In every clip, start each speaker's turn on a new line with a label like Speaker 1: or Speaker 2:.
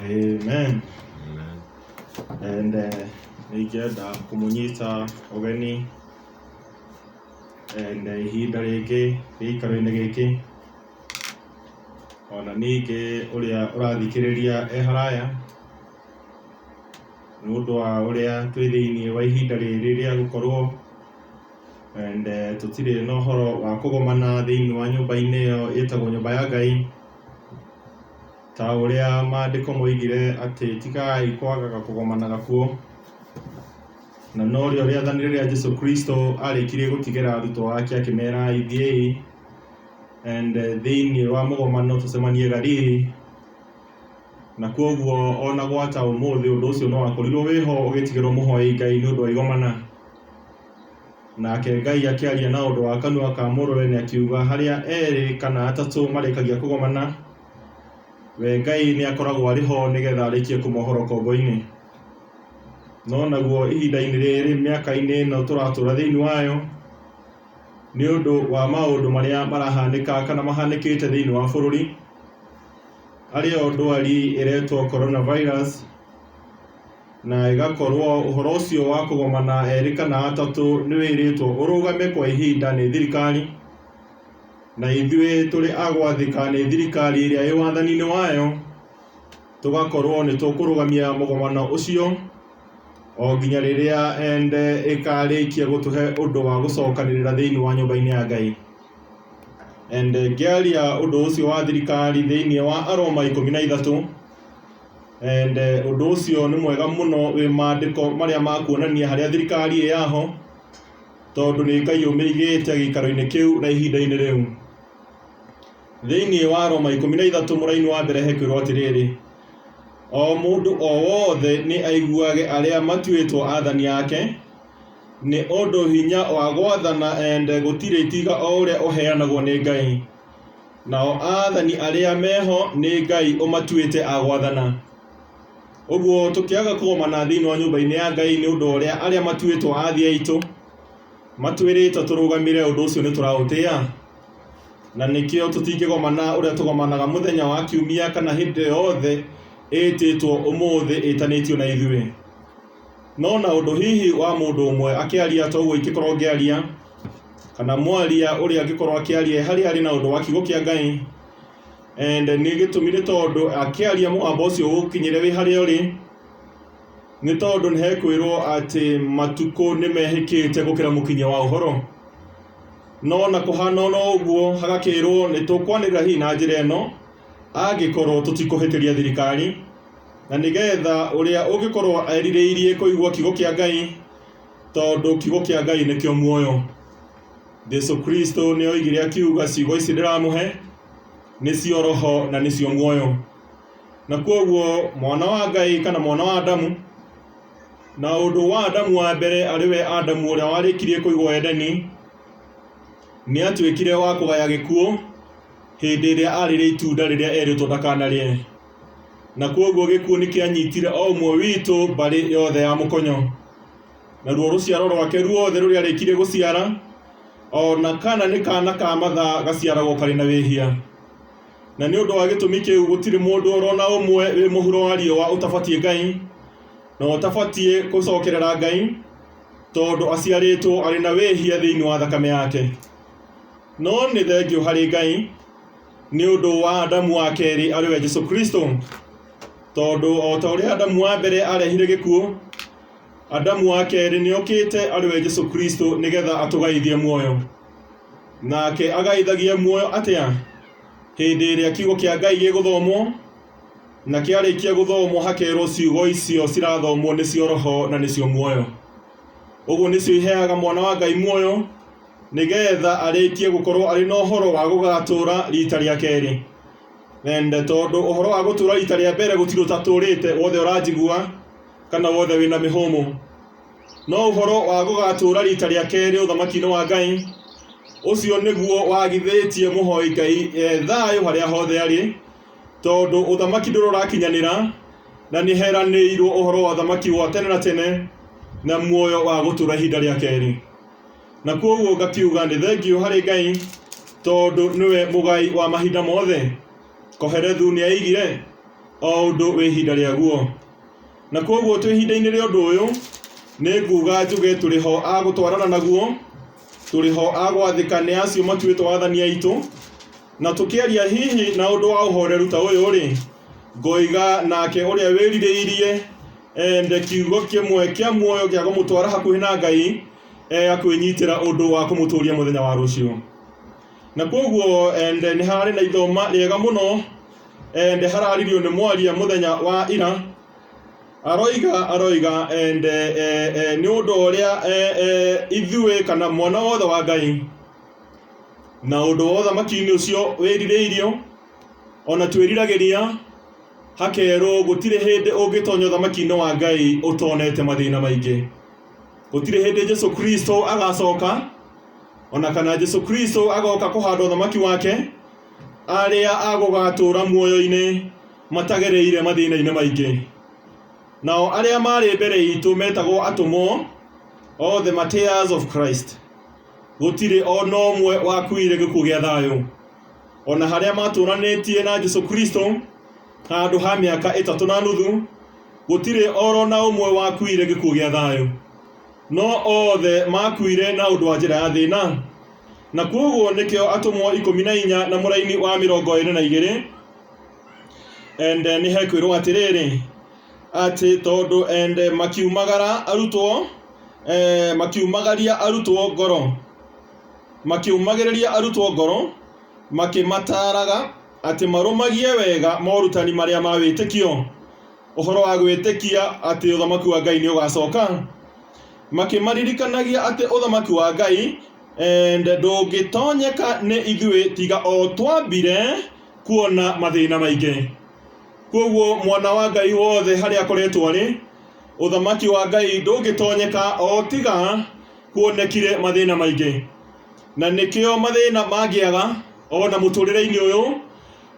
Speaker 1: Amen. And uh, they get that kumunyita ogeni and uh, ihinda rĩngĩ gĩikaro-inĩ gĩkĩ ona ningĩ ũrĩa ũrathikĩrĩria e haraya, nĩ ũndũ wa ũrĩa twĩ thĩinĩ wa ihinda rĩrĩ rĩa gũkorwo and tũtirĩ na ũhoro wa kũgomana thĩinĩ wa nyũmba-inĩ ĩyo ĩtagwo nyũmba ya Ngai, ta ũrĩa mandĩko moigire atĩ tigai kwagaga kũgomanaga kuo, na norĩo rĩathani rĩrĩa Jesũ Kristo arĩkirie gũtigĩra arutwo ake akĩmera ithiĩi. and eh, thĩinĩ wa mũgomano tũcemanie Galili na kwoguo ona gwata ũmũthĩ ũndũ ũcio no wakorirwo wĩho ũgĩtigĩrwo mũhoei Ngai nĩ ũndũ wa igomana nake Ngai akĩaria na ũndũ wa kanua ka mũrũwe nĩ akiuga harĩa erĩ kana atatũ marĩkagia kũgomana we Ngai nĩ akoragwo arĩ ho nĩgetha arĩkie kũmohoro kombo-inĩ no naguo ihinda-inĩ rĩrĩ mĩaka-inĩ ĩno tũratũra thĩinĩ wayo nĩ ũndũ wa maũndũ marĩa marahanĩka kana mahanĩkĩte thĩinĩ wa bũrũri, arĩ yo ndwari ĩretwo Corona Virus, na ĩgakorwo ũhoro ũcio wa kũgomana erĩ kana atatũ nĩ wĩrĩtwo ũrũgame kwa ihinda nĩ thirikari, na ithuĩ tũrĩ a gwathĩka nĩ thirikari ĩrĩa ĩ wathani-inĩ wayo. Tũgakorwo nĩ tũkũrũgamia mũgomano ũcio o nginya rĩrĩa ende ĩkarĩkia gũtũhe ũndũ wa gũcokanĩrĩra thĩinĩ wa nyũmba-inĩ ya Ngai. Ende ngĩaria ũndũ ũcio wa thirikari thĩinĩ wa Aroma ikũmi na ithatũ, ende ũndũ ũcio nĩ mwega mũno wĩ maandĩko marĩa makuonania harĩa thirikari ĩ yaho, tondũ nĩ Ngai ũmĩigĩte gĩikaro-inĩ kĩu na ihinda-inĩ rĩu. Thĩinĩ wa Aroma ikũmi na ithatũ mũraini wa mbere hekwĩrwo atĩrĩrĩ, O mũndũ o wothe nĩ aiguage arĩa matuĩtwo athani ake, nĩ ũndũ hinya wa gwathana ende gũtirĩ tiga o ũrĩa ũheanagwo nĩ Ngai, nao athani arĩa meho nĩ Ngai ũmatuĩte a gwathana. Ũguo tũkĩaga kũgomana thĩinĩ wa nyũmba-inĩ ya Ngai nĩ ũndũ wa ũrĩa arĩa matuĩtwo athĩ aitũ matwĩrĩte tũrũgamĩre ũndũ ũcio nĩ tũraũtĩa? Na nĩkĩo tũtingĩgomana ũrĩa tũgomanaga mũthenya wa kiumia kana hĩndĩ yothe ĩtĩtwo ũmũthĩ ĩtanĩtio na ithuĩ. No na ũndũ hihi wa mũndũ ũmwe akĩaria ta ũguo ingĩkorwo ngĩaria, kana mwaria ũrĩa angĩkorwo akĩaria harĩa arĩ na ũndũ wa kiugo kĩa Ngai, and nĩ gĩtũmi nĩ tondũ akĩaria mũgambo ũcio ũgũkinyĩre wĩ harĩa ũrĩ, nĩ tondũ nĩ hekwĩrwo atĩ matukũ nĩ mehĩkĩte gũkĩra mũkinyia wa ũhoro. No ona kũhana ona ũguo hagakĩrwo nĩtũkwanĩrĩra hihi na njĩra ĩno angĩkorwo tũtikũhĩtĩria thirikari na nĩgetha ũrĩa ũngĩkorwo erirĩirie kũigua kiugo kĩa Ngai tondũ kiugo kĩa Ngai nĩkĩo muoyo. Jesu Kristo nĩoigire akiuga ciugo ici ndĩramũhe nĩcio roho na nĩcio muoyo. Na kwoguo mwana wa Ngai kana mwana wa Adamu Na ũndũ wa Adamu wa mbere, arĩ we Adamu ũrĩa warĩkirie kũigwo Edeni, nĩ aatuĩkire wa kũgaya gĩkuũ hĩndĩ ĩrĩa arĩrĩa itunda rĩrĩa erĩtwo ndakanarĩe. Na kwoguo gĩkuũ nĩ kĩanyitire o ũmwe witũ mbarĩ yothe ya mũkonyo. Naruo rũciaro rwake ruothe rũrĩa arĩkirie gũciara, o na kana nĩ kana ka mathaa gaciaragwo karĩ na wĩhia. Na nĩ ũndũ wa gĩtũmi kĩu gũtirĩ mũndũ o na ũmwe wĩ mũhuro wa riũa ũtabatiĩ Ngai, na ũtabatiĩ gũcokerera Ngai tondũ aciarĩtwo arĩ na wĩhia thĩinĩ wa thakame yake. No nĩ thengiũ harĩ Ngai nĩ ũndũ wa Adamu wa kerĩ arĩ we Jesu Kristo, tondũ o ta ũrĩa Adamu wa mbere arehire gĩkuũ, Adamu wa kerĩ nĩ okĩte arĩ we Jesu Kristo nĩgetha atũgaithie muoyo. Nake agaithagia muoyo atĩa? Hĩndĩ ĩrĩa kiugo kĩa Ngai gĩgũthomwo na kĩarĩkia gũthomwo hakerwo ciugo icio cirathomwo nĩcio roho na nĩcio muoyo ũguo nĩcio iheaga mwana wa ngai muoyo nĩgetha arĩkie gũkorwo arĩ na ũhoro wa gũgatũra rita rĩa kerĩ ende tondũ ũhoro wa gũtũra rita rĩa mbere gũtirĩ ũtatũrĩte wothe ũranjigua kana wothe wĩna mĩhũmũ no ũhoro wa gũgatũra rita rĩa kerĩ ũthamaki-inĩ wa ngai ũcio nĩguo wagithĩtie mũhoi ngai e thayũ harĩa hothe arĩ Tondũ ũthamaki ndũrĩ ũrakinyanĩra, na nĩheranĩirwo ũhoro wa ũthamaki wa tene na tene, na muoyo wa gũtũra ihinda rĩa kerĩ. Na kwoguo ngakiuga nĩ thengio harĩ Ngai, tondũ nĩwe mũgai wa mahinda mothe. Koherethu nĩaigire, o ũndũ wĩ ihinda rĩaguo. Na kwoguo twĩ ihinda-inĩ rĩa ũndũ ũyũ, nĩnguga njuge tũrĩ ho a gũtwarana naguo, tũrĩ ho a gwathĩka nĩ acio matuĩtwo athani aitũ, Na tũkĩaria hihi na ũndũ wa ũhoreru ta ũyũ-rĩ, ngoiga nake ũrĩa wĩrirĩirie ende kiugo kĩmwe kĩa muoyo gĩa kũmũtwara hakuhĩ na Ngai eh, akwĩnyitĩra ũndũ wa kũmũtũũria mũthenya wa rũciũ. Na kwoguo ende nĩ hararĩ na ithoma rĩega mũno ende hararirio nĩ mwaria mũthenya wa ira aroiga aroiga ende eh, eh, nĩ ũndũ ũrĩa eh, eh, ithuĩ kana mwana wothe wa Ngai Na ũndũ wa ũthamaki-inĩ ũcio wĩrirĩirio, o na twĩriragĩria, hakerwo, Gũtirĩ hĩndĩ ũngĩtonya ũthamaki-inĩ wa Ngai ũtonete mathĩna maingĩ. Gũtirĩ hĩndĩ Jesu Kristo agacoka, o na kana Jesu Kristo agoka kũhanda ũthamaki wake, arĩa agũgatũũra muoyo-inĩ matagereire mathĩna-inĩ maingĩ. Nao arĩa marĩ mbere itũ metagwo atũmwo, othe martyrs of Christ. gũtirĩ o na ũmwe wakuire gĩkuũ gĩa thayũ o na harĩa matũranĩtie na jesu kristo handũ ha mĩaka ĩtatũ na nuthu gũtirĩ oro na ũmwe wakuire gĩkuũ gĩa thayũ no othe makuire na ũndũ wa njĩra ya thĩna na kwoguo nĩkĩo atũmwo ikũmi na inya na mũraini wa mĩrongo ĩrĩ na igĩrĩ ende nĩ hekwĩrwo atĩrĩrĩ atĩ tondũ ende makiumagara arutwo eh, makiumagaria arutwo ngoro makiumagĩrĩria arutwo ngoro makĩmataaraga atĩ marũmagie wega morutani marĩa ma wĩtĩkio ũhoro wa gwĩtĩkia atĩ ũthamaki wa Ngai nĩ ũgacoka makĩmaririkanagia atĩ ũthamaki wa Ngai eh, ndũngĩtonyeka nĩ ithuĩ tiga o twambire kuona mathĩna maingĩ Kwoguo mwana wa Ngai wothe harĩa akoretwo arĩ, ũthamaki wa Ngai ndũngĩtonyeka o tiga kuonekire mathĩna maingĩ. Na nĩkĩo mathĩna mangĩaga o na mũtũrĩre-inĩ ũyũ,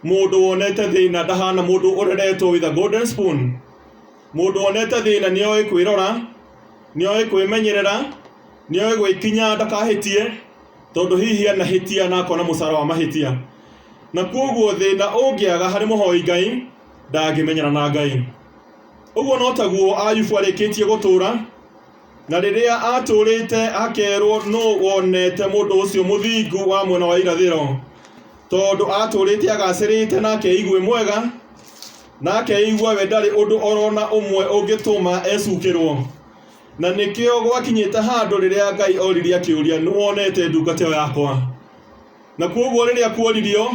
Speaker 1: mũndũ wonete thĩna ndahana mũndũ ũreretwo with a golden spoon. Mũndũ wonete thĩna nĩ oĩ kwĩrora, nĩ oĩ kwĩmenyerera, nĩ oĩ gwĩkinya ndakahĩtie, Tondũ hihi anahĩtia na akona mũcara wa mahĩtia. Na kwoguo thĩna ũngĩaga harĩ mũhoi Ngai, ndangĩmenyana na Ngai. Ũguo no taguo Ayubu arĩkĩtie gũtũũra, na rĩrĩa atũũrĩte akerwo nũ wonete mũndũ ũcio mũthingu wa mwena wa irathĩro, tondũ atũũrĩte agacĩrĩte na akeigue mwega, na akeigua we ndarĩ ũndũ orona ũmwe ũngĩtũma ecukĩrwo. Na nĩkĩo gwakinyĩte handũ rĩrĩa Ngai oririe akĩũria, nĩ wonete ndungata ĩyo yakwa? Na kwoguo rĩrĩa kuoririo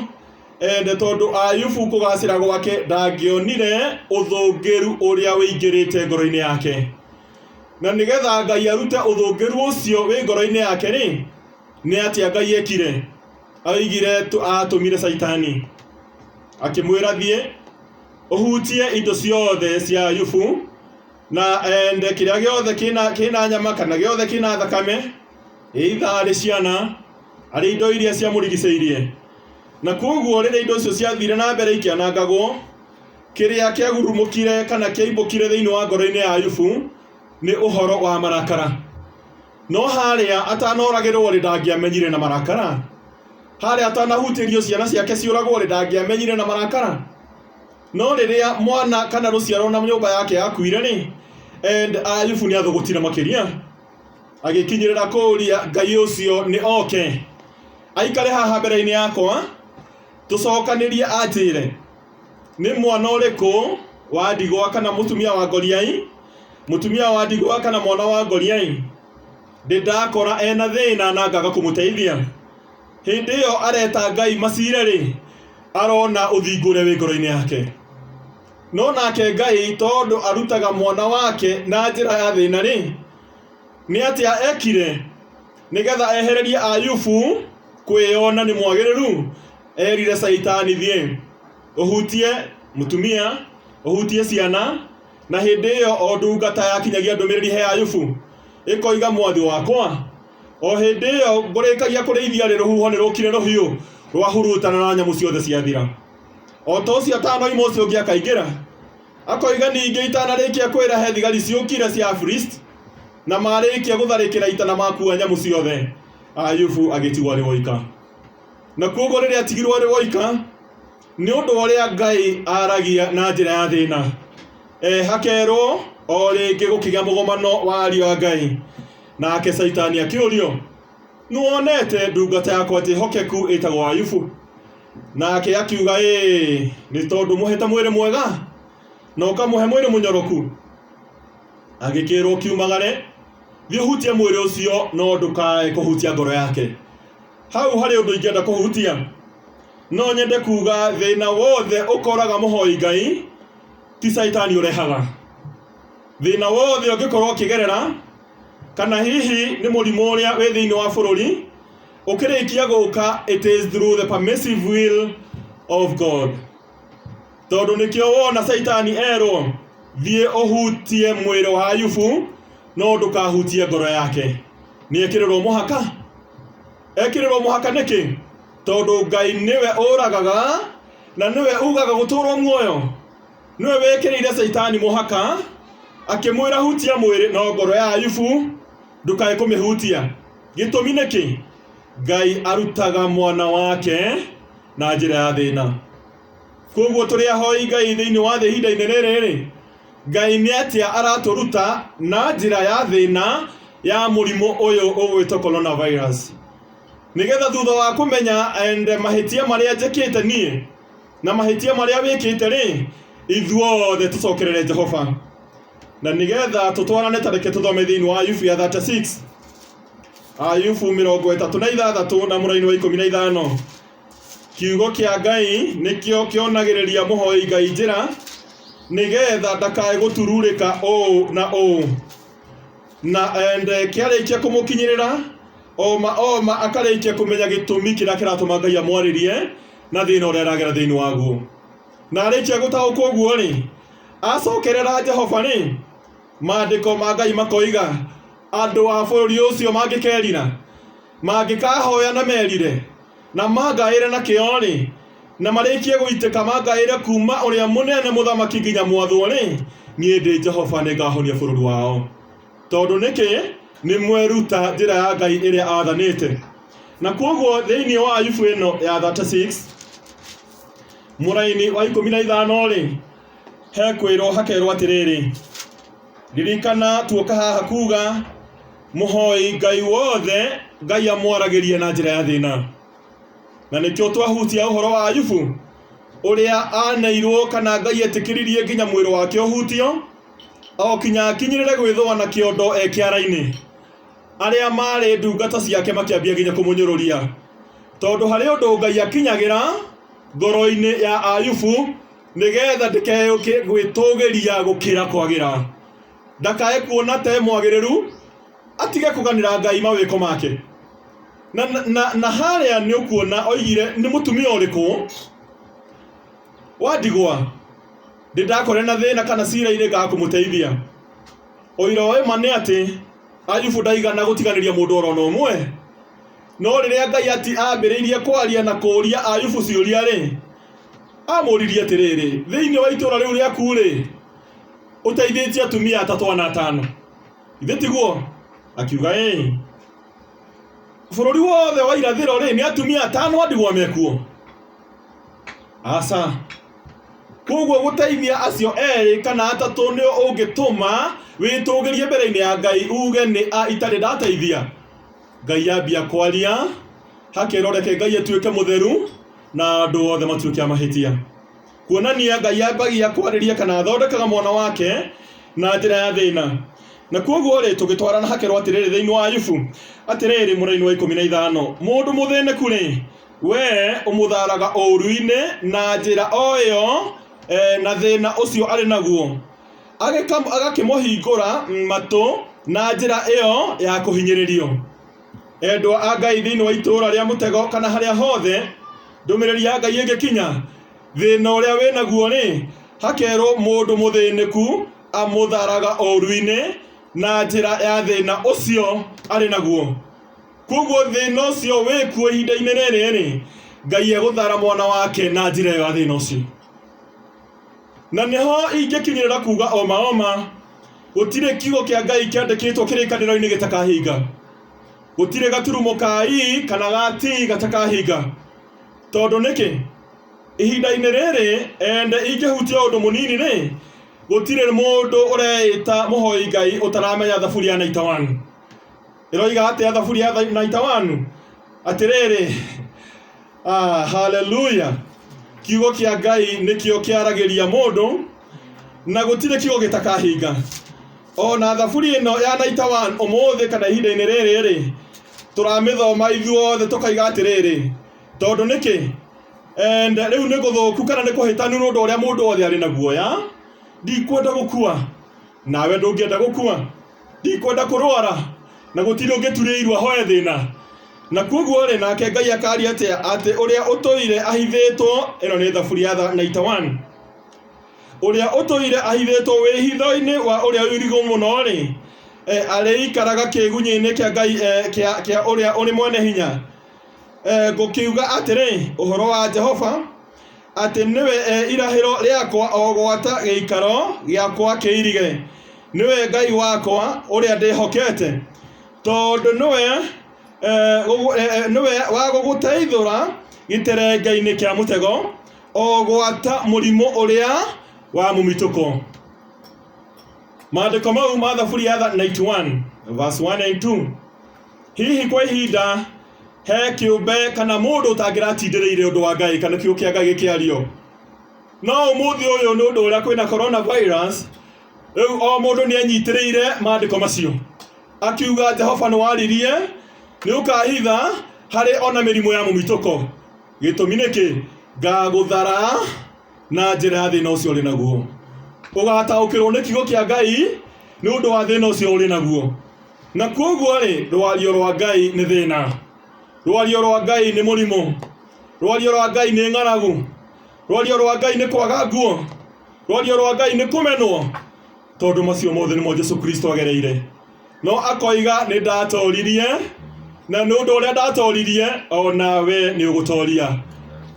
Speaker 1: ende tondũ Ayubu kũgacĩra gwake ndangĩonire ũthũngĩru ũrĩa ũingĩrĩte ngoro-inĩ yake. Na nĩgetha Ngai arute ũthũngĩru ũcio wĩ ngoro-inĩ yake rĩ, nĩ atĩa Ngai ekire? Aigire atũmire Caitani akĩmwĩra thiĩ ũhutie indo ciothe cia Ayubu, na ende kĩrĩa gĩothe kĩna kĩna nyama kana gĩothe kĩna thakame either arĩ ciana arĩ indo iria ciamũrigicĩirie na kwoguo rĩrĩa indo icio ciathire na mbere ikĩanangagwo kĩrĩa kĩagurumũkire kana kĩaimbũkire thĩinĩ wa ngoro-inĩ ya Ayubu nĩ ũhoro wa marakara no harĩa atanoragĩrwo rĩ ndangĩamenyire na marakara harĩa atanahutĩrio ciana ciake ciũragwo rĩ ndangĩamenyire na marakara No rĩrĩa mwana kana rũciaro na nyũmba yake yakuire rĩ, and Ayubu nĩ athũgũtire makĩria agĩkinyĩrĩra kũũria Ngai ũcio nĩ oke aikare haha mbere-inĩ yakwa tũcokanĩrie anjĩre nĩ mwana ũrĩkũ wa ndigwa kana mũtumia wa ngoriai mũtumia wa ndigwa kana mwana wa ngoriai ndĩndakora ena thĩna na ngaga kũmũteithia Hĩndĩ ĩyo areta Ngai macire-rĩ, arona ũthingu ũrĩa wĩ ngoro-inĩ yake. No nake Ngai tondũ arutaga mwana wake na njĩra ya thĩna-rĩ, nĩ atĩa ekire nĩgetha ehererie Ayubu kwĩyona nĩ mwagĩrĩru? Erire Caitani, Thiĩ ũhutie mũtumia, ũhutie ciana, Na hĩndĩ ĩyo o ndungata yakinyagia ndũmĩrĩri he Ayubu, ĩkoiga mwathi wakwa, o hĩndĩ ĩyo ngũrĩkagia kũrĩithia rĩ rũhuho nĩ rũkire rũhiũ rwahurutana na nyamũ ciothe ciathira. O ta ũcio atanoima ũcio ũngĩ akaingĩra, akoiga ningĩ itanarĩkia kwĩra he thigari ciũkire cia Afilisti, na marĩkia gũtharĩkĩra ita na makua nyamũ ciothe, Ayubu agĩtigwo arĩ woika. Na kuoguo rĩrĩa atigirwo arĩ woika, Nĩ ũndũ wa ũrĩa Ngai aaragia na njĩra ya thĩna, e, hakerwo o rĩngĩ gũkĩgĩa mũgomano wa ariũ a Ngai. Nake Caitani akĩũrio, Nĩwonete ndungata yakwa njĩhokeku ĩtagwo Ayubu? Nake akiuga, Ĩĩ, nĩ tondũ mũhete mwĩrĩ mwega na ũkamũhe mwĩrĩ mũnyoroku. Agĩkĩĩrwo, Kiumagare, thiĩ ũhutie mwĩrĩ ũcio, no ndũkae kũhutia ngoro yake. Hau harĩ ũndũ ingĩenda kũhutia. No nyende kuga thĩna wothe ũkoraga mũhoi Ngai ti caitani ũrehaga. Thĩna wothe ũngĩkorwo ũkĩgerera kana hihi nĩ mũrimũ ũrĩa wĩ thĩinĩ wa bũrũri ũkĩrĩkia gũka it is through the permissive will of God. tondũ nĩkĩo wona caitani erwo thiĩ ũhutie mwĩrĩ wa ayubu no ndũkahutie ngoro yake nĩ ekĩrĩrwo mũhaka ekĩrĩrwo mũhaka nĩkĩ tondũ ngai nĩwe ũragaga na nĩwe ugaga gũtũrwo muoyo nĩwe wĩkĩrĩire caitani mũhaka akĩmwĩra hutia mwĩrĩ no ngoro ya ayubu ndũkae kũmĩhutia gĩtũmi nĩkĩ ngai arutaga mwana wake na njĩra ya thĩna. Koguo tũrĩ ahoi Ngai thĩinĩ wa thĩ ihinda-inĩ rĩrĩ rĩ, Ngai nĩ atĩa aratũruta na njĩra ya thĩna ya mũrimũ ũyũ ũgwĩtwo coronavirus. Nĩgetha thutha wa kũmenya and mahĩtia marĩa njĩkĩte niĩ na mahĩtia marĩa wĩkĩte rĩ, ithuothe tũcokerere Jehova. Na nĩgetha tũtwarane ta reke tũthome thĩinĩ wa Ayubu ya 36 Ayubu mĩrongo ĩtatũ na ithathatũ na mũraini wa ikũmi na ithano kiugo kĩa ngai nĩkĩo kĩonagĩrĩria mũhoi ngai njĩra nĩgetha ndakae gũtururĩka ũũ na ũũ na ende kĩarĩkia kũmũkinyĩrĩra oma oma akarĩkia kũmenya gĩtũmi kĩrĩa kĩratũma ngai amwarĩrie na thĩna ũrĩa aragera thĩinĩ waguo na arĩkia gũtaũkwo ũguo rĩ acokerera jehova rĩ Maandĩko ma Ngai makoiga, Andũ a bũrũri ũcio mangĩkerira, mangĩkahoya na merire, na mangaĩre na kĩyo-rĩ, na marĩkie gũitĩka mangaĩre kuuma ũrĩa mũnene mũthamaki nginya mwathwo-rĩ, niĩ ndĩ Jehova nĩngahonia bũrũri wao. Tondũ nĩkĩ? Nĩmweruta njĩra ya Ngai ĩrĩa aathanĩte. Na kwoguo thĩinĩ wa Ayubu ĩno ya 36 mũraini wa ikũmi na ithano-rĩ, he kwĩrwo hakerwo atĩrĩrĩ ririkana tuoka haha kuga mũhoi ngai wothe ngai amwaragĩrie na njĩra ya thĩna na nĩkĩo twahutia ũhoro wa ayubu ũrĩa aneirwo kana ngai etĩkĩririe nginya mwĩrĩ wake ũhutio okinya akinyĩrĩre gwĩthũa na kĩondo e kĩara-inĩ arĩa marĩ ndungata ciake makĩambia nginya kũmũnyũrũria tondũ harĩ ũndũ ngai akinyagĩra ngoro-inĩ ya ayubu nĩgetha ndĩkeyũkie gwĩtũgĩria gũkĩra kwagĩra ndakae kuona te mwagĩrĩru atige kũganĩra ngai mawĩko make na, na, na, na harĩa nĩ ũkuona oigire nĩ mũtumia ũrĩkũ wa ndigwa ndĩ ndakore na thĩna kana cira-inĩ ga kũmũteithia ũira wa ma nĩ atĩ ayubu ndaigana gũtiganĩria mũndũ oro na ũmwe no rĩrĩa ngai ati ambĩrĩirie kwaria na kũũria ayubu ciũria-rĩ Aamũũririe atĩrĩrĩ, Thĩinĩ wa itũũra rĩu rĩaku-rĩ, ũteithĩtie atumia atatũ ana atano, githĩ tiguo? Akiuga, Ĩĩ. Bũrũri wothe wa irathĩro-rĩ, nĩ atumia atano a ndigwa mekuo? Aca. Kwoguo gũteithia acio erĩ kana atatũ nĩo ũngĩtũma wĩtũgĩrie mbere-inĩ ya Ngai uge nĩ a itarĩ ndateithia? Ngai ambia kwaria, hakeroreke Ngai atuĩke mũtheru, na andũ othe matuĩke a mahĩtia kuonania ngai ambagia kwarĩria kana athondekaga mwana wake na njĩra ya thĩna na kwoguo rĩ tũgĩtwara na hakerwo atĩrĩrĩ thĩinĩ wa ayubu atĩrĩrĩ mũraini wa ikũmi na ithano mũndũ mũthĩnĩku rĩ we ũmũtharaga ũru-inĩ na njĩra o ĩyo eh, na thĩna ũcio arĩ naguo Agĩka- agakĩmũhingũra matũ na njĩra ĩyo ya kũhinyĩrĩrio Endwa a Ngai thĩinĩ wa itũũra rĩa mũtego kana harĩa hothe ndũmĩrĩri ya Ngai ĩngĩkinya, thĩna ũrĩa wĩ naguo rĩ, hakerwo mũndũ mũthĩnĩku amũtharaga ũũru-inĩ na njĩra ya thĩna ũcio arĩ naguo. Kwoguo thĩna ũcio wĩ kuo ihinda-inĩ rĩrĩ rĩ, Ngai egũthara mwana wake na njĩra ĩyo ya thĩna ũcio. Na nĩho ingĩkinyĩrĩra kuuga o ma o ma, Gũtirĩ kiugo kĩa Ngai kĩandĩkĩtwo kĩrĩkanĩro-inĩ gĩtakahinga, gũtirĩ gaturumo ka i kana ga ti gatakahinga. Tondũ nĩkĩ? Ihinda-inĩ rĩrĩ ende ingĩhutia ũndũ mũnini-rĩ, gũtirĩ mũndũ ũreĩta mũhoi Ngai ũtaramenya Thaburi ya 91. ĩroiga atĩa thaburi ya tha- naita wanu atĩrĩrĩ ah, haleluya kiugo kĩa ngai nĩkĩo kĩaragĩria mũndũ na gũtirĩ kiugo gĩtakahinga o na thaburi ĩno ya naita wanu ũmũthĩ kana ihinda-inĩ rĩrĩ rĩ tũramĩthoma ithuothe tũkaiga atĩrĩrĩ tondũ nĩkĩ And rĩu nĩ gũthũku kana nĩ kũhĩtanu nĩ ũndũ ũrĩa mũndũ wothe arĩ na guoya ndikwenda gũkua nawe ndũngĩenda gũkua Ndikwenda kũrũara, na gũtirĩ ũngĩturĩa iru ahoe thĩna. Na kwoguo-rĩ, nake Ngai akaaria atĩa atĩ ũrĩa ũtũire ahithĩtwo, ĩno nĩ Thaburi ya 91, ũrĩa ũtũire ahithĩtwo wĩhitho-inĩ wa Ũrĩa Ũirigũ Mũno-rĩ, e arĩikaraga kĩĩgunyĩ-inĩ kĩa Ngai e kĩa Ũrĩa Ũrĩ Mwene Hinya? e Ngũkiuga atĩrĩ, Ũhoro wa Jehova, Atĩ nĩwe e irahĩro rĩakwa o gwata gĩikaro gĩakwa kĩirige. Nĩwe Ngai wakwa ũrĩa ndĩhokete, tondũ nĩwe, e, gũgũ, e, e, nĩwe wa gũgũteithũra gĩterengeinĩ kĩa mũtego, o gwata mũrimũ ũrĩa wa mũmitũko. Maandĩko mau ma Thaburi ya 91 verse 1 and 2. hihi kwa ihinda he kĩũmbe kana mũndũ ũtangĩratindĩrĩire ũndũ wa ngai kana kiugo kĩa ngai gĩkĩario no ũmũthĩ ũyũ nĩ ũndũ ũrĩa kwĩna coronavirus rĩu o mũndũ nĩ anyitĩrĩire maandĩko macio akiuga jehova nĩ waririe nĩ ũkahitha harĩ ona mĩrimũ ya mũmitũko gĩtũmi nĩkĩ ngagũthara na njĩra ya thĩna ũcio ũrĩ naguo ũgataũkĩrwo nĩ kiugo kĩa ngai nĩ ũndũ wa thĩna ũcio ũrĩ naguo Na kwoguo-rĩ, rũario rwa Ngai nĩ thĩna, rũario rwa Ngai nĩ mũrimũ, rũario rwa Ngai nĩ ng'aragu, rũario rwa Ngai nĩ kwaga nguo, rũario rwa Ngai nĩ kũmenwo, tondũ macio mothe nĩmo Jesu Kristo agereire. No akoiga, Nĩ ndatooririe, na nĩ ũndũ ũrĩa ndatooririe, o nawe nĩ ũgũtooria.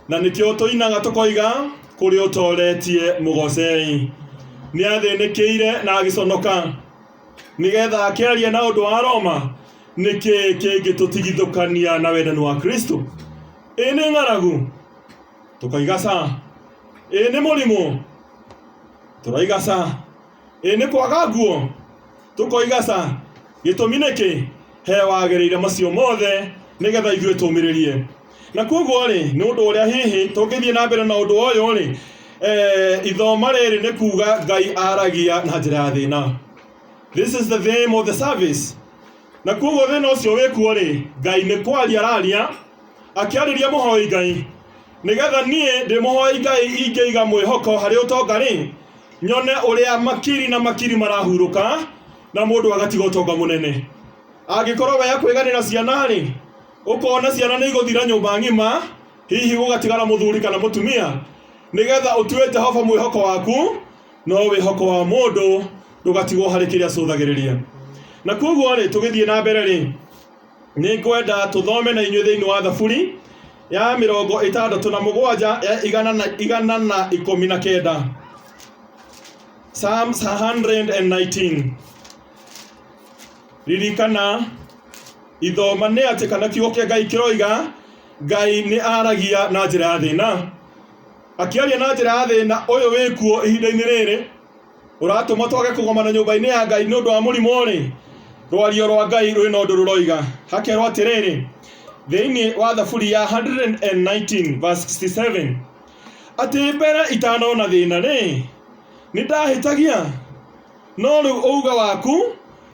Speaker 1: Na nĩkĩo tũinaga tũkoiga, Kũrĩa ũtooretie mũgocei. Nĩ athĩnĩkĩire na agĩconoka. Nĩ getha akĩaria na ũndũ wa Roma, nĩ kĩĩ kĩngĩtũtigithũkania na wendani wa Kristo? Ĩ nĩ ng'aragu? Tũkaiga ca. Ĩ nĩ mũrimũ? Tũraiga ca. Ĩ nĩ kwaga nguo? Tũkoiga ca. Gĩtũmi nĩkĩ? He wagĩrĩire macio mothe nĩ getha ithuĩ tũmĩrĩrie. na koguo rĩ nĩ ũndũ ũrĩa hihi tũngĩthiĩ na mbere na ũndũ ũyũ rĩ eh, ithoma rĩrĩ nĩ kuga ngai aragia na njĩra ya thĩna this is the theme of the service na koguo thĩna ũcio wĩkuo rĩ ngai nĩ kwaria araria akĩarĩria mũhoi ngai nĩgetha niĩ ndĩ mũhoi ngai ingĩiga mwĩhoko harĩ ũtonga rĩ nyone ũrĩa makiri na makiri marahurũka na mũndũ agatiga ũtonga mũnene angĩkorwo we akwĩganĩra ciana rĩ Ũkoona ciana nĩ igũthira nyũmba ng'ima, hihi gũgatigara mũthuri kana mũtumia, nĩgeetha ũtue Jehova mwĩhoko waku, no wĩhoko wa mũndũ ndũgatigwo harĩ kĩrĩa acũthagĩrĩria. Na kwoguo-rĩ, tũgĩthiĩ na mbere-rĩ, nĩ ngwenda tũthome na inyuĩ thĩinĩ wa Thaburi ya mĩrongo ĩtandatũ na mũgwanja ya igana na, igana na ikũmi na kenda. Psalms 119. Ririkana, ithoma nĩ atĩ kana kiugo kĩa Ngai kĩroiga Ngai nĩ aragia na njĩra ya thĩna. Akĩaria na njĩra ya thĩna ũyũ wĩkuo ihinda-inĩ rĩrĩ ũratũma twage kũgomana nyũmba-inĩ ya Ngai nĩ ũndũ wa mũrimũ-rĩ, rwario rwa Ngai rwĩ na ũndũ rũroiga. Hakerwo atĩrĩrĩ, thĩinĩ wa Thaburi ya 119 verse 67, atĩ mbere itanona thĩna-rĩ, nĩ ndahĩtagia No rĩu ũuga waku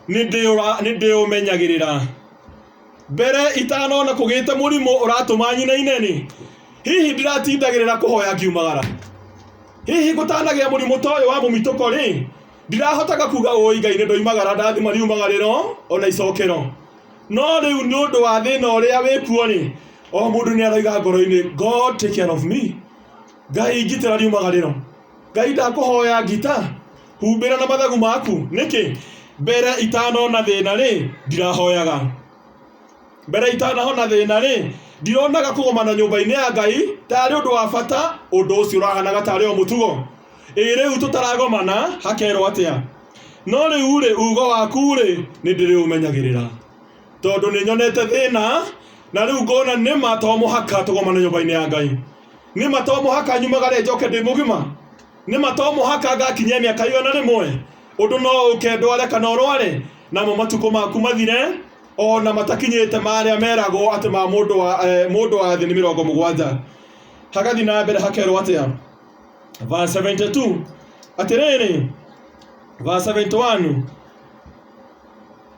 Speaker 1: nĩndĩũra- nĩndĩũmenyagĩrĩra mbere itanona kũgĩte mũrimũ ũratũma nyinaineni hihi ndiratindagĩrĩra kũhoya ngiumagara hihi gũtanagĩa mũrimũ ta ũyũ wa mũmitũko rĩ ndirahotaga kuga ũĩ ngai nĩndoimagara ndathima riumagarĩro ona icokero no rĩu nĩ ũndũ wa thĩna ũrĩa wĩkuo rĩ o mũndũ nĩaroiga ngoro-inĩ god take care of me ngai ngitĩra riumagarĩro ngai ndakũhoya ngita Humbĩra na mathagu maku nĩkĩ? Mbere itanona thĩna rĩ, ndirahoyaga. Mbere itanahona thĩna rĩ, ndironaga kũgomana nyũmba-inĩ ya Ngai tarĩ ũndũ wa bata, ũndũ ũcio ũrahanaga tarĩ o mũtugo. Ĩ rĩu tũtaragomana hakerwo atĩa? No rĩu rĩ, ugo waku rĩ, nĩndĩrĩũmenyagĩrĩra. Tondũ nĩnyonete thĩna, na rĩu ngona nĩma to mũhaka tũgomane nyũmba-inĩ ya Ngai. Nĩma to mũhaka nyumagare njoke ndĩ mũgima. Nĩ ma to mũhaka ngakinyie mĩaka igana rĩmwe? Ũndũ no ũke ndware kana ũrware, namo matukũ maku mathire, o na matakinyĩte marĩa meragwo atĩ ma mũndũ wa, eh, mũndũ wa thĩ nĩ mĩrongo mũgwanja. Hagathiĩ na mbere hakerwo atĩa? Verse 72, atĩrĩrĩ, verse 71,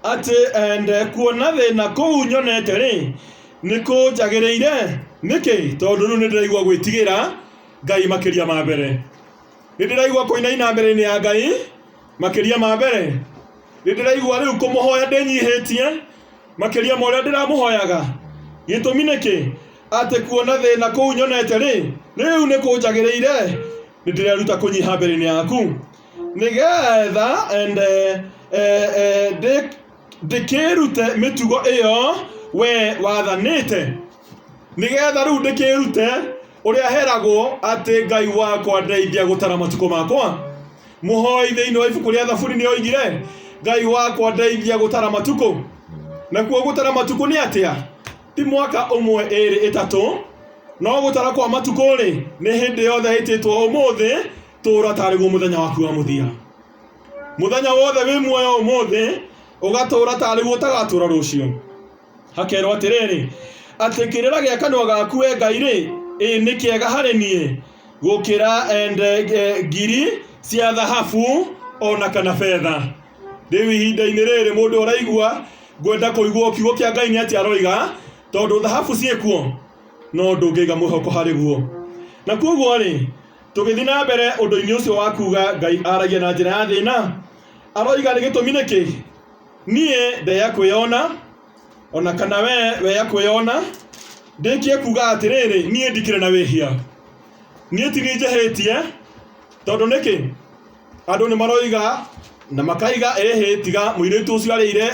Speaker 1: atĩ eh, ndekuona thĩna kũu nyonete-rĩ, nĩkũnjagĩrĩire. Nĩkĩ? Tondũ rĩu nĩndĩraigua gwĩtigĩra, Ngai makĩria ma mbere. Nĩ ndĩraigua kũinaina mbere-inĩ ya Ngai makĩria ma mbere. Nĩ ndĩraigua rĩu kũmũhoya ndĩnyihĩtie makĩria ma ũrĩa ndĩramũhoyaga. Gĩtũmi nĩkĩ? Atĩ kuona thĩna kũu nyonete rĩ, rĩu nĩ kũnjagĩrĩire. Nĩ ndĩreruta kũnyiha mbere-inĩ yaku nĩgetha ende eh, eh, ndĩ- ndĩkĩrute mĩtugo ĩyo we wathanĩte nĩgetha rĩu ndĩkĩrute ũrĩa heragwo atĩ ngai wakwa ndeithia gũtara matukũ makwa mũhoi thĩinĩ wa ibuku rĩa thaburi nĩ oigire ngai wakwa ndeithia gũtara matukũ nakuo gũtara matukũ nĩ atĩa ti mwaka ũmwe ĩrĩ ĩtatũ no gũtara kwa matukũ rĩ nĩ hĩndĩ yothe ĩtĩtwo ũmũthĩ tũũra tarĩguo mũthenya waku wa mũthia mũthenya wothe wĩ muoyo ũmũthĩ ũgatũũra tarĩguo ũtagatũũra rũciũ hakerwo atĩrĩrĩ atĩ kĩrĩra gĩa kanua gaku we ngai rĩ ĩ nĩ kĩega harĩ niĩ gũkĩra ende e, ngiri cia thahabu ona kana betha rĩu ihinda-inĩ rĩrĩ mũndũ ũraigua ngwenda kũigua kiugo kĩa ngai nĩ atĩ aroiga tondũ thahabu ciĩkuo no ndũngĩiga mwĩhoko harĩ guo na kwoguo rĩ tũgĩthiĩ na mbere ũndũ-inĩ ũcio wa kuga ngai aragia na njĩra ya thĩna aroiga nĩ gĩtũmi nĩkĩ Niĩ ndeya kwĩyona, o na kana wee weya kwĩyona, ndĩkie kuuga atĩrĩrĩ, Niĩ ndikĩrĩ na wĩhia. Niĩ ti niĩ njĩhĩtie, tondũ nĩkĩ? Andũ nĩ maroiga na makaiga, ĩhĩ tiga mũirĩtu ũcio arĩire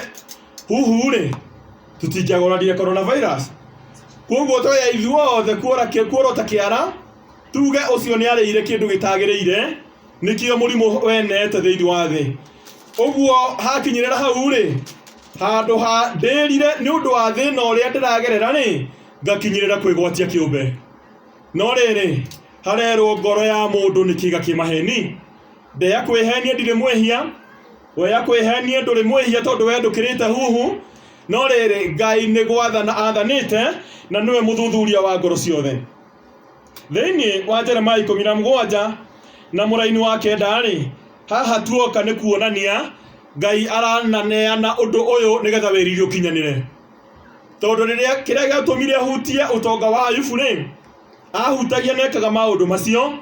Speaker 1: huhu-rĩ, tũtingĩagũrarire Corona Virus. Kwoguo tweya ithuothe kuorota kĩara, tuge ũcio nĩ arĩire kĩndũ gĩtagĩrĩire. nĩkĩo mũrimũ wenete thĩinĩ wa thĩ ũguo hakinyĩrĩra hau rĩ handũ ha ndĩrire nĩ ũndũ wa thĩna ũrĩa ndĩragerera rĩ ngakinyĩrĩra kwĩgwatia kĩũmbe no rĩrĩ harerwo ngoro ya mũndũ nĩ kĩga kĩ maheni ndeya kwĩhenia ndirĩ mwĩhia weya kwĩhenia ndũrĩ mwĩhia tondũ we ndũkĩrĩte huhu no rĩrĩ ngai nĩ gwathana athanĩte na nĩwe mũthuthuria wa ngoro ciothe thĩinĩ wa jeremia ikũmi na mũgwanja na mũraini wa kenda-rĩ haha tuoka nĩ kuonania ngai arananeana ũndũ ũyũ nĩgetha wĩriri ũkinyanĩre tondũ rĩrĩa kĩrĩa gĩatũmire hutie ũtonga wa ayubu rĩ ahutagia nekaga maũndũ macio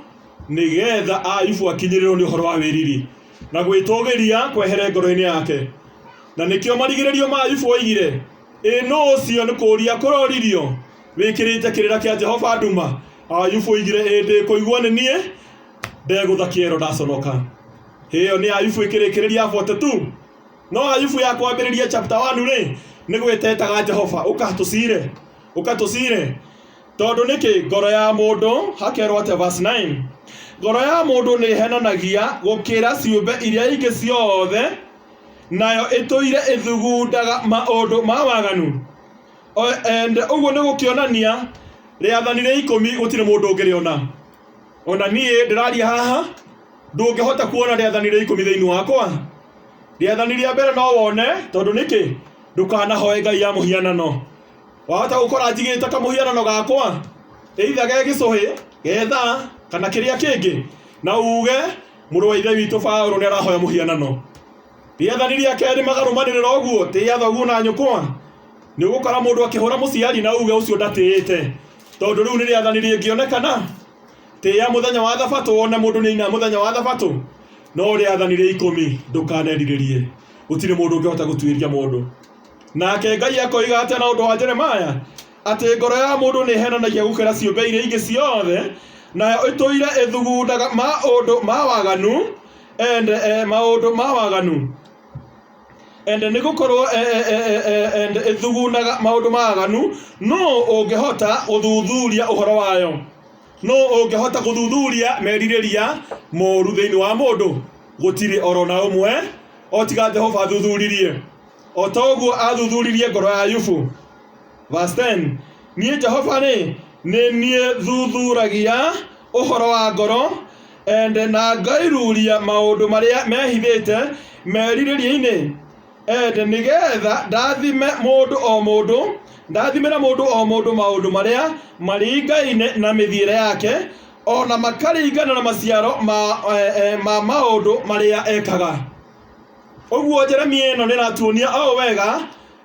Speaker 1: nĩgetha ayubu akinyĩrĩrwo nĩ ũhoro wa wĩriri na gwĩtũgĩria kwehere ngoro-inĩ yake na nĩkĩo marigĩrĩrio ma ayubu oigire ĩ nũ ũcio nĩ kũria kũroririo wĩkĩrĩte kĩrĩra kĩa jehova nduma ayubu oigire ĩndĩ kũigua nĩ niĩ ndegũtha kĩero ndaconoka ĩyo nĩ ayubu ĩkĩrĩkĩrĩria 42 no ayubu ya kwambĩrĩria chapter 1 rĩ nĩ gwĩtetaga jehova ũkatũcire ũkatũcire tondũ nĩkĩ ngoro ya mũndũ hakerwo atĩa verse 9 ngoro ya mũndũ nĩ ĩhenanagia gũkĩra ciũmbe iria ingĩ ciothe nayo ĩtũire ĩthugundaga maũndũ ma waganu And ũguo nĩ gũkĩonania rĩathani rĩa ikũmi gũtirĩ mũndũ ũngĩrĩona. Ona niĩ ndĩraria haha ndũngĩhota kuona rĩathani rĩa ikũmi thĩinĩ wakwa. Rĩathani rĩa mbere no wone tondũ nĩkĩ ndũkanahoe ngai ya mũhianano. Wahota gũkora njigĩte kamũhianano gakwa either ge gĩcũhĩ, ge thaa kana kĩrĩa kĩngĩ na uge mũrũ wa ithe witũ Baũrũ nĩ arahoya mũhianano. Rĩathani rĩa kerĩ magarũmanĩrĩra ũguo tĩa thoguo na nyũkwa Nĩũgũkora mũndũ akĩhũra mũciari na uge ũcio ndatĩĩte, tondũ rĩu nĩ rĩathani rĩngĩonekana, tĩĩa mũthenya wa thabatũ, wone mũndũ nĩ aina mũthenya wa thabatũ, no rĩathani rĩa ikũmi, ndũkanerirĩrie, gũtirĩ mũndũ ũngĩhota gũtuĩria mũndũ. Nake Ngai akoiga atĩa na ũndũ wa Jeremaya? Atĩ ngoro ya mũndũ nĩ ĩhenanagia gũkĩra ciũmbe iria ingĩ ciothe, nayo ĩtũire ĩthugundaga maũndũ ma waganu, ende e maũndũ ma waganu. and nĩgũkorwo eh, eh, eh, eh, and ĩthugunaga maũndũ maganu nũ ũngĩhota gũthuthuria ũhoro wayo nũ ũngĩhota gũthuthuria merirĩria moru thĩinĩ wa mũndũ gũtirĩ oro na ũmwe o tiga jehova athuthuririe o ta ũguo athuthuririe ngoro ya yubu Verse 10, Niĩ Jehova-rĩ, nĩ niĩ thuthuragia ũhoro wa ngoro, and na ngairuria maũndũ marĩa mehithĩte merirĩria-inĩ, and nĩgetha ndathime mũndũ o mũndũ, ndathimĩre mũndũ o mũndũ maũndũ marĩa maringaine na mĩthiĩre yake, o na makaringana na maciaro ma, eh, eh, ma maũndũ marĩa ekaga. Ũguo Jeremia ĩno nĩ ĩratuonia o wega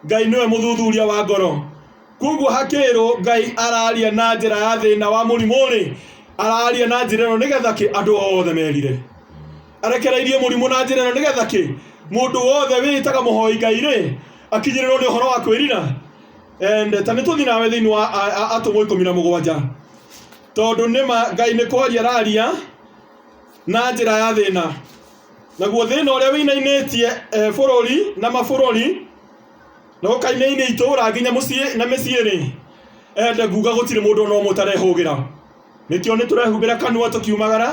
Speaker 1: Ngai nĩwe mũthuthuria wa ngoro. Koguo hakĩrwo Ngai araria na njĩra ya thĩna wa mũrimũ rĩ, araria na njĩra ĩno nĩgetha kĩ andũ othe merire. Arekereirie mũrimũ na njĩra ĩno nĩgetha kĩ mũndũ wothe wĩtaga mũhoi Ngai rĩ, akinyĩrĩrwo nĩ ũhoro wa kwĩrira. Ende, ta nĩtũthi nawe thĩinĩ wa Atũmwo ikũmi na mũgwanja. Tondũ nĩma Ngai nĩ kwaria araria na njĩra ya thĩna. Naguo thĩna ũrĩa wĩinainĩtie eh, bũrũri na mabũrũri na ũkainainia itũũra nginya mũciĩ na mĩciĩ-rĩ, ende nguga gũtirĩ mũndũ ona ũmwe ũtarehũgĩra. Nĩkĩo nĩtũrehumbĩra kanua tũkiumagara,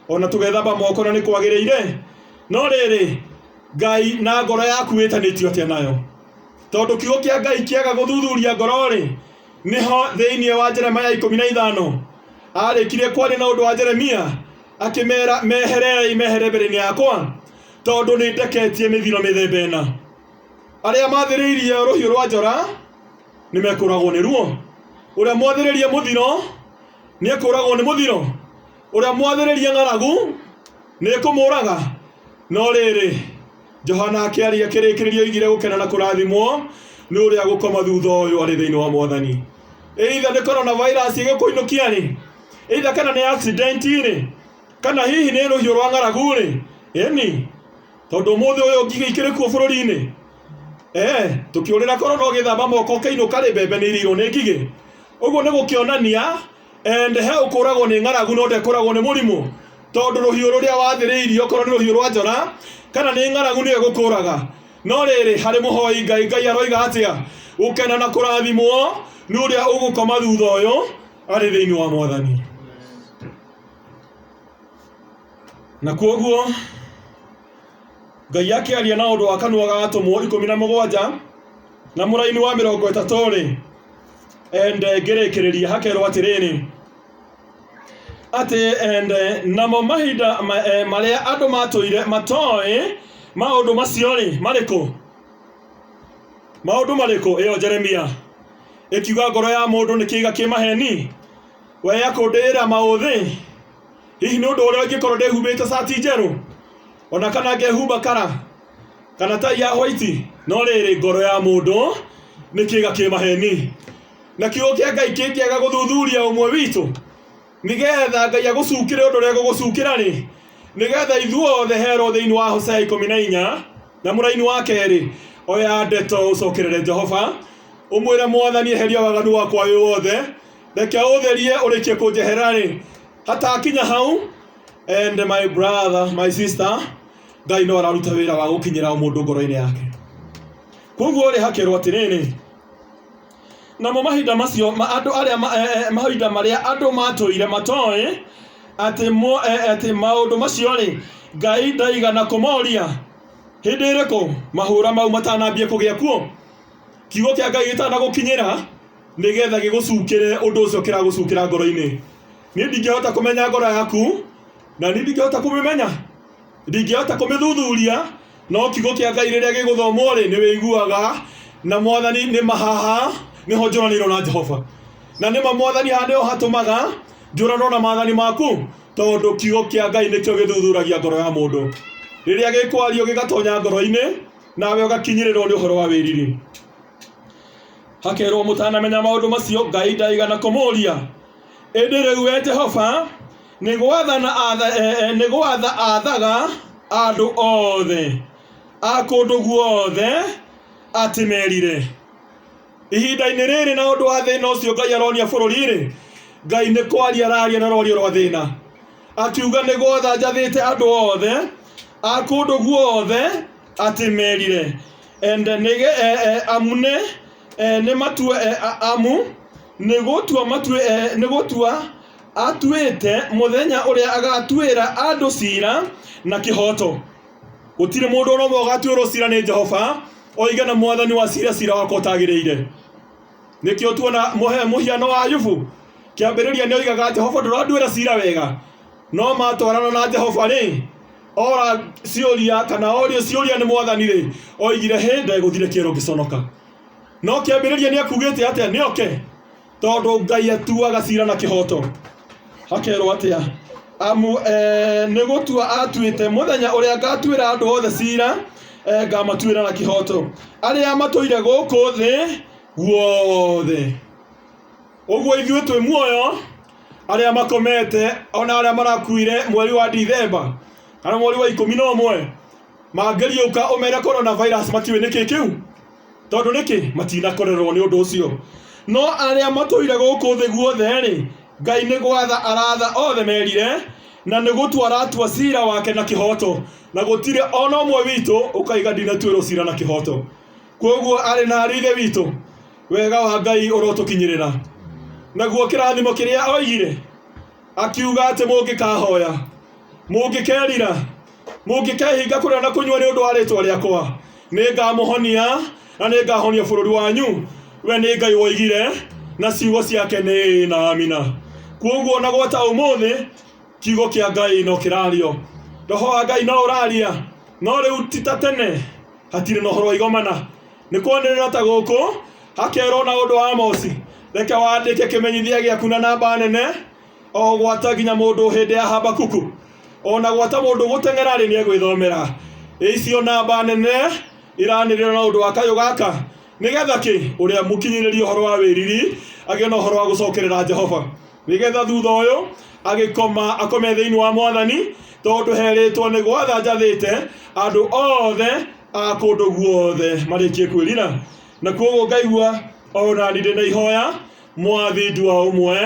Speaker 1: ona tũgethamba moko na nĩkwagĩrĩire. No rĩrĩ, Ngai na ngoro yaku wĩtanĩtio atĩa nayo? Tondũ kiugo kĩa Ngai kĩaga gũthuthuria ngoro-rĩ, nĩho thĩinĩ wa Jeremia ikũmi na ithano aarĩkirie kwaria na ũndũ wa Jeremia Akĩmeera, Mehereei, mehere mbere-inĩ yakwa, tondũ nĩndeketie mĩthiro mĩthemba ĩna. Arĩa maathĩrĩirie rũhiũ rwa njora nĩmekũũragwo nĩruo, ũrĩa mwathĩrĩirie mũthiro nĩekũũragwo nĩ mũthiro, ũrĩa mwathĩrĩirie ng'aragu nĩĩkũmũũraga. No rĩrĩ, Johana akĩaria kĩrĩkĩrĩria oigire gũkena na kũrathimwo nĩ ũrĩa gũkoma thutha ũyũ arĩ thĩinĩ wa mwathani either nĩ coronavirus ĩgĩkũinũkia rĩ either kana nĩ accident rĩ kana hihi nĩ rũhiũ rwa ng'aragu rĩ ĩni tondũ mũthĩ ũyũ ngigĩ ikĩrĩ kuo bũrũri-inĩ eh tũkĩũrĩra korona ũgĩthamba moko ũkĩinũka rĩ mbembe nĩ irĩirwo nĩ ngigĩ ũguo nĩ gũkĩonania and he ũkũragwo nĩ ng'aragu no ndekũragwo nĩ mũrimũ tondũ rũhiũ rũrĩa wathĩrĩirio okorwo nĩ rũhiũ rwa njora kana nĩ ng'aragu nĩyo ĩgũkũraga no rĩrĩ harĩ mũhoi ngai ngai aroiga atĩa gũkena na kũrathimwo nĩ ũrĩa ũgũkoma thutha ũyũ arĩ thĩinĩ wa mwathani na kuoguo ngai akĩaria na ũndũ wa kanua ga atũmwo ikũmi na mũgwanja na mũraini wa mĩrongo ĩtatũ-rĩ ende ngĩrĩkĩrĩria hakerwo atĩrĩrĩ atĩ ende namo mahinda ma- eh, marĩa andũ matũire matoĩ maũndũ macio rĩ marĩkũ maũndũ marĩkũ ĩyo jeremia ĩkiuga ngoro ya mũndũ nĩ kĩiga kĩ maheni we yakũndĩĩra maũthĩ hihi nĩ ũndũ ũrĩa ingĩkorwo ndĩhumbĩte cati njerũ ona kana ngehumba kara kana tai ya hwaiti no rĩrĩ ngoro ya mũndũ nĩ kĩga kĩ maheni na kiugo kĩa ngai kĩngĩaga gũthuthuria ũmwe witũ nĩgetha ngai agũcukĩre ũndũ ũrĩa gũgũcukĩra rĩ nĩgetha ithuothe herwo thĩinĩ wa hosea ikũmi na inya na mũraini wa kerĩ oya ndeto ũcokerere jehova ũmwĩre mwathani eheria waganu wakwa wĩ wothe reke ũtherie ũrĩkie kũnjehera rĩ hatakinya hau and my brother my sister Ngai no araruta wĩra wa gũkinyĩra mũndũ ngoro-inĩ yake. Koguo rĩ hakerwo atĩrĩrĩ, namo mahinda macio ma andũ arĩa ma- eh, eh, mahinda marĩa andũ matũire matoĩ atĩ mo- eh, eh, atĩ maũndũ macio rĩ Ngai ndaigana kũmoria hĩndĩ ĩrĩkũ mahũra mau matanambia kũgĩa kuo kiugo kĩa Ngai gĩtanagũkinyĩra nĩgetha gĩgũcukĩre ũndũ ũcio kĩragũcukĩra ngoro-inĩ. Niĩ ndingĩhota kũmenya ngoro yaku na niĩ ndingĩhota kũmĩmenya ndingĩhota kũmĩthuthuria no kiugo kĩa ngai rĩrĩa gĩgũthomwo rĩ nĩ wĩiguaga na mwathani nĩ mahaha nĩho njũranĩirwo na jehova na nĩma mwathani haha nĩho hatũmaga njũranwo na maathani maku tondũ kiugo kĩa ngai nĩkĩo gĩthuthuragia ngoro ya mũndũ rĩrĩa gĩkwario gĩgatonya ngoro-inĩ nawe ũgakinyĩrĩrwo nĩ ũhoro wa wĩriri hakerwo mũtanamenya maũndũ macio ngai ndaigana kũmũria ĩndĩ rĩu we jehova Nĩ gwatha aathaga andũ othe a kũndũ guothe atĩ merire. Ihinda-inĩ rĩrĩ na ũndũ wa thĩna ũcio Ngai aronia bũrũri-rĩ, Ngai nĩ kwaria araria na rwario rwa thĩna, akiuga, Nĩ gwatha njathĩte andũ othe a kũndũ guothe atĩ merire. Amu nĩ Ee, nĩ matue e, a, amu nĩ gũtua matue e, nĩ gũtua atuĩte mũthenya ũrĩa agatuĩra andũ cira na kĩhoto gũtirĩ mũndũ ona ũmwe ũgatuĩrwo cira nĩ jehova oige na mwathani wa cira cira wakwa ũtagĩrĩire nĩkĩo tuona mũhe- mũhiano wa ayubu kĩambĩrĩria nĩ oigaga jehova ndũranduĩra cira wega no matwarana na jehova rĩ ora ciũria kana orio ciũria nĩ mwathani rĩ oigire hĩ ndegũthire kĩero ngĩconoka no kĩambĩrĩria nĩ akugĩte atĩa nĩ oke tondũ ngai atuaga cira na kĩhoto hakerwo atĩa amu eh, nĩ gũtua atuĩte mũthenya ũrĩa ngatuĩra andũ othe cira eh, ngamatuĩra na kĩhoto arĩa matũire gũkũ thĩ guothe Ũguo ithuĩ twĩ muoyo arĩa makomete ona arĩa marakuire mweri wa Dithemba kana mweri wa ikũmi na ũmwe mangĩriũka ũmere corona virus matiũĩ nĩkĩ kĩu tondũ nĩkĩ matinakorerwo nĩ ũndũ ũcio no arĩa matũire gũkũ thĩ guothe rĩ Ngai nĩ gwatha aratha othe merire na nĩ gũtua aratua cira wake na kĩhoto na gũtirĩ ona ũmwe witũ ũkaiga ndinatuĩrwo cira na kĩhoto kwoguo arĩ na ariithe witũ Wega wa Ngai ũrotũkinyĩrĩra. Naguo kĩrathimo kĩrĩa oigire, akiuga atĩ mũngĩkahoya, mũngĩkerira, mũngĩkehinga kũrĩa na kũnyua nĩ ũndũ wa rĩtwa rĩakwa, nĩ ngamũhonia na nĩ ngahonia bũrũri wanyu. We nĩ Ngai woigire na ciugo ciake nĩ ĩĩ na amina. Kuoguo na gwata ũmũthĩ, kiugo kĩa Ngai no kĩrario. Roho wa Ngai no ũraria, no rĩu ti ta tene, hatirĩ na ũhoro wa igomana. Nĩ kwanĩrĩra ta gũkũ, hakerwo na ũndũ wa Amosi. Reke wandĩke kĩmenyithia gĩaku na namba nene, o gwata nginya mũndũ hĩndĩ ya Habakuku. O na gwata mũndũ gũteng'era rĩ nĩegwĩthomera. Icio namba nene iranĩrĩra na ũndũ wa kayũ gaka, nĩgetha kĩ? Ũrĩa mũkinyĩrĩrie ũhoro wa wĩriri agĩe na ũhoro wa gũcokerera Jehova. Nĩgetha thutha ũyũ agĩkoma akome thĩinĩ wa Mwathani, tondũ herĩtwo nĩ gwatha njathĩte andũ othe a kũndũ guothe marĩkie kwĩrira na kuoguo ngaigua o nani ndĩ na ihoya mwathi ndua ũmwe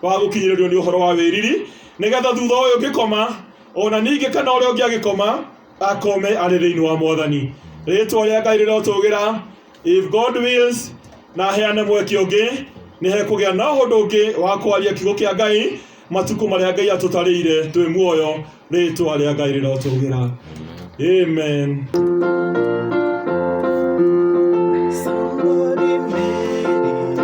Speaker 1: wa gũkinyĩrĩrio nĩ ũhoro wa wĩriri nĩgetha thutha ũyũ ngĩkoma ona ningĩ kana ũrĩa ũngĩ agĩkoma akome arĩ thĩinĩ wa mwathani rĩtwa rĩa ngai rĩrotũgĩra If God wills, na heane mweke ũngĩ nĩ hekũgĩa na ũhũndũ ũngĩ wa kwaria kiugo kĩa Ngai matukũ marĩa Ngai atũtarĩire twĩ muoyo rĩtwa rĩa Ngai rĩrotũgĩra amen Somebody made it.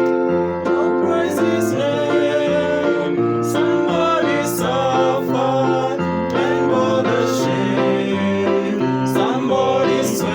Speaker 1: Don't praise his name. Somebody suffered and bore the shame. Somebody sweat.